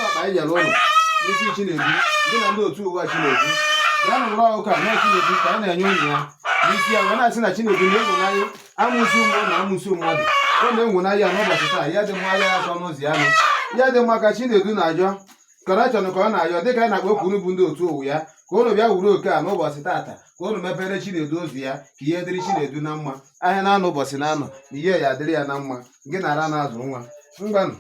ọkpa anyị nyere ụnụ n'isi Chinedu gị na ndị otu ụwa Chinedu bịanụ wuru oke a na Chinedu ka anyị na-enye ụnụ ya n'isi ya wee na-asị na Chinedu na-enwenanya amusu mmụọ na amusu mmadụ ọ na-enwenanya ya n'ụbọchị taa ya dị mma ya akọ n'ụzọ ya nụ ya dị mma ka Chinedu na-ayọ kọnekshọn ka ọ na-ayọ dịka anyị na-akpọku bụ ndị otu ụwa ya ka ụnụ bịa wuru oke a n'ụbọchị taata ka ụnụ mepere Chinedu ụzọ ya ka ihe dịrị Chinedu na mma ahịa na-anọ ụbọchị na-anọ na ihe ya adịrị ya na mma gị na ara na-azụ nwa ngwanụ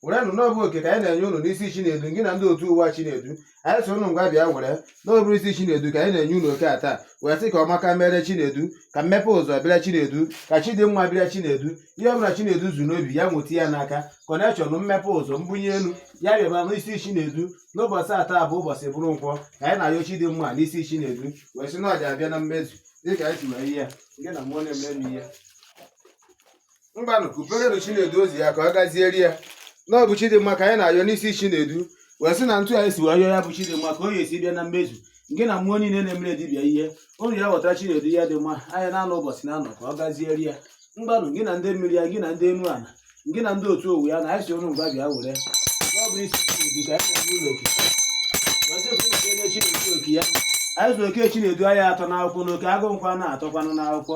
werenụ na ọ bụ oke ka anyị na-enye ụnụ n'isi Chinedu gị na ndị otu ụwa Chinedu anyị sị ụnụ ngwa bịa were na ọ bụ isi Chinedu ka anyị na-enye ụnụ oke a taa wee sị ka ọmaka mere Chinedu ka mmepe ụzọ bịara Chinedu ka chi dị mma bịara Chinedu ihe ọbụla Chinedu zu n'obi ya nweta ya n'aka kọnekshọn mmepe ụzọ mbunye elu ya bịaba n'isi Chinedu n'ụbọchị taa bụ ụbọchị bụrụ nkwọ ka anyị na-ayọ chi dị mma n'isi Chinedu wee sị na ọ ja-abịa na mmezu dịka anyị si wee yọọ ya gị na mmụọ na-eme ihe ngwanụ kuperenụ chinedu ụzọ ya ka ọ gaziere ya na ọ bụ chi dị mma ka anyị na-ayọ n'isi chinedu wee sị na etu anyị si wee yọọ ya bụ chi dị mma ka ọ ya-esi bịa na mmezu gị na mmụọ niile na-emere dibịa ihe unu ya ghọtara chinedu ya dị mma ahịa na-anọ ụbọchị na-anọ ka ọ gaziere ya ngwanụ gị na ndị mmiri ya gị na ndị enu ala gị na ndị otu ụwa ya na anyị sị unu ngwa bịa were ọ bụ isi chinedu ka anyị na-enye unu oke wee sị ka unu kenye chinedu oke ya anyị zụrụ oke chinedu anya atọ n'akwụkwọ na oke agụ nkwa na-atọkwanụ n'akwụkwọ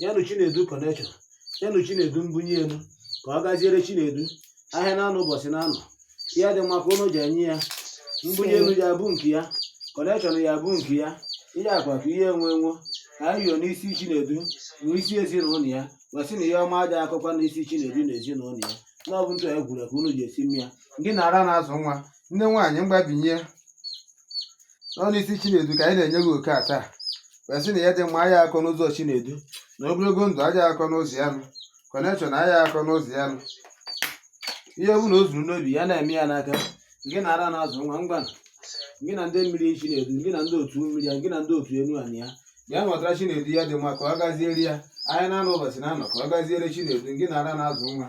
nyenụ chinedu kọnekshọn nyenụ chinedu mbunye elu ka ọ gaziere chinedu ahịa na-anọ ụbọchị na-anọ ya dị mma ka ụnụ ji enye ya mbunye elu ya bụ nke ya kọnekshọn ya bụ nke ya ihe akụ akụ ihe enwe enwe ka anyị yọọ n'isi chinedu n'isi ezinụlọ ya wee sị na ihe ọma aja akọkwa n'isi chinedu na ezinụlọ ya na ọ bụ etu e kwuru ka unu ja-esi meere ya gị na ara na-azụ nwa nne nwaanyị mgbabinye nọ n'isi Chinedu ka anyị na-enye gị oke a taa wee sị na ya dị mma aya akọ n'ụzọ Chinedu na ogologo ndụ aja akọ n'ụzọ ya nụ kọnekshọn aya akọ n'ụzọ ya nụ ihe ọ bụla o zuru n'obi ya na-eme ya n'aka gị na ara na-azụ nwa ngwa gị na ndị mmiri Chinedu gị na ndị otu mmiri ya gị na ndị otu enu anị ya bịa nwetara Chinedu ya dị mma ka ọ gaziere ya ahịa na-anọ ụbọchị na-anọ ka ọ gaziere Chinedu gị na ara na-azụ nwa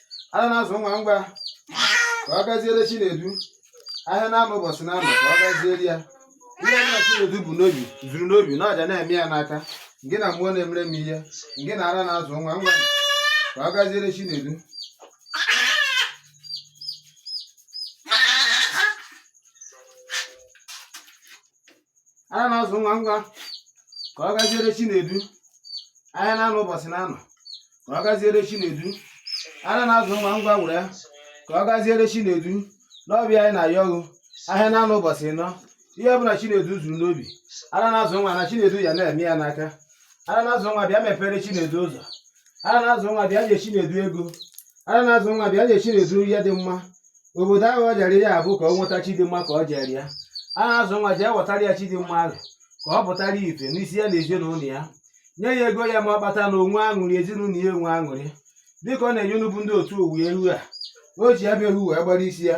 ara na-azụ nwa ngwa ka ọ gaziere Chinedu ahịa na-anọ ụbọchị na-anọ ka ọ gaziere ya ihe na Chinedu bu n'obi zuru n'obi na ọ ja na-eme ya n'aka gị na mmụọ na-emere m ihe gị na ara na-azụ nwa ngwa ka ọ gaziere Chinedu ara na-azụ nwa ngwa ka ọ gaziere Chinedu ahịa na-anọ ụbọchị na-anọ ka ọ gaziere Chinedu ara na-azụ nwa ngwa were ya ka ọ gaziere Chinedu na ọ bụ ya anyị na-ayọ gị ahịa na-anọ ụbọchị ịnọ ihe ọbụla Chinedu zuru n'obi ara na-azụ nwa na Chinedu ya na-eme ya n'aka ara na-azụ nwa bịa mepere Chinedu ụzọ ara na-azụ nwa bịa nye Chinedu ego ara na-azụ nwa bịa nye Chinedu ya dị mma obodo ahụ ọ jere ya bụ ka ọ nweta chidimma ka ọ jere ya ara na-azụ nwa jee wetara ya chidimma ahụ ka ọ pụtara ife n'isi ya na ezinụlọ ya nye ya ego ya ma ọ kpata na o nwee aṅụrị ezinụlọ ya enwe aṅụrị dịka ọ na-enye unu bụ ndị otu owu eghu a o ji ya bụ eghu wee gbara isi ya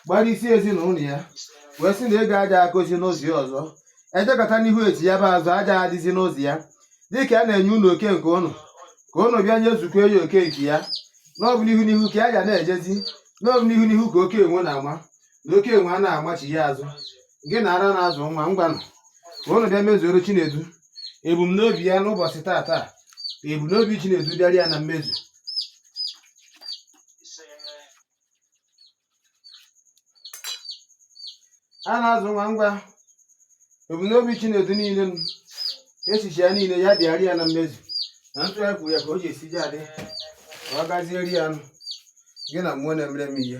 gbara isi ezinụlọ ya wee sị na ego aja akụzi n'ụzọ ya ọzọ ejekọta n'ihu echie ya bụ azụ aja adịzi n'ụzọ ya dịka a na-enye unu oke nke unu ka unu bịa nyezukwuo ya oke nke ya na ọ bụ n'ihu n'ihu ka ya ga na-ejezi na ọ bụ n'ihu n'ihu ka oke enwe na-ama na oke enwe ana amachi ya azụ gị na ara na-azụ nwa ngwanụ ka unu bịa mezuoro chinedu ebumnobi ya n'ụbọchị tataa ka ebumnobi chinedu bịara ya na mmezu ara na-azụ nwa ngwa ebumnobi Chinedu niile na echiche ya niile ya bịara ya na mmezu na etu anyị kwuru ya ka o ji esi ji adị ka ọ gazieri ya nụ gị na mmụọ na-emere m ihe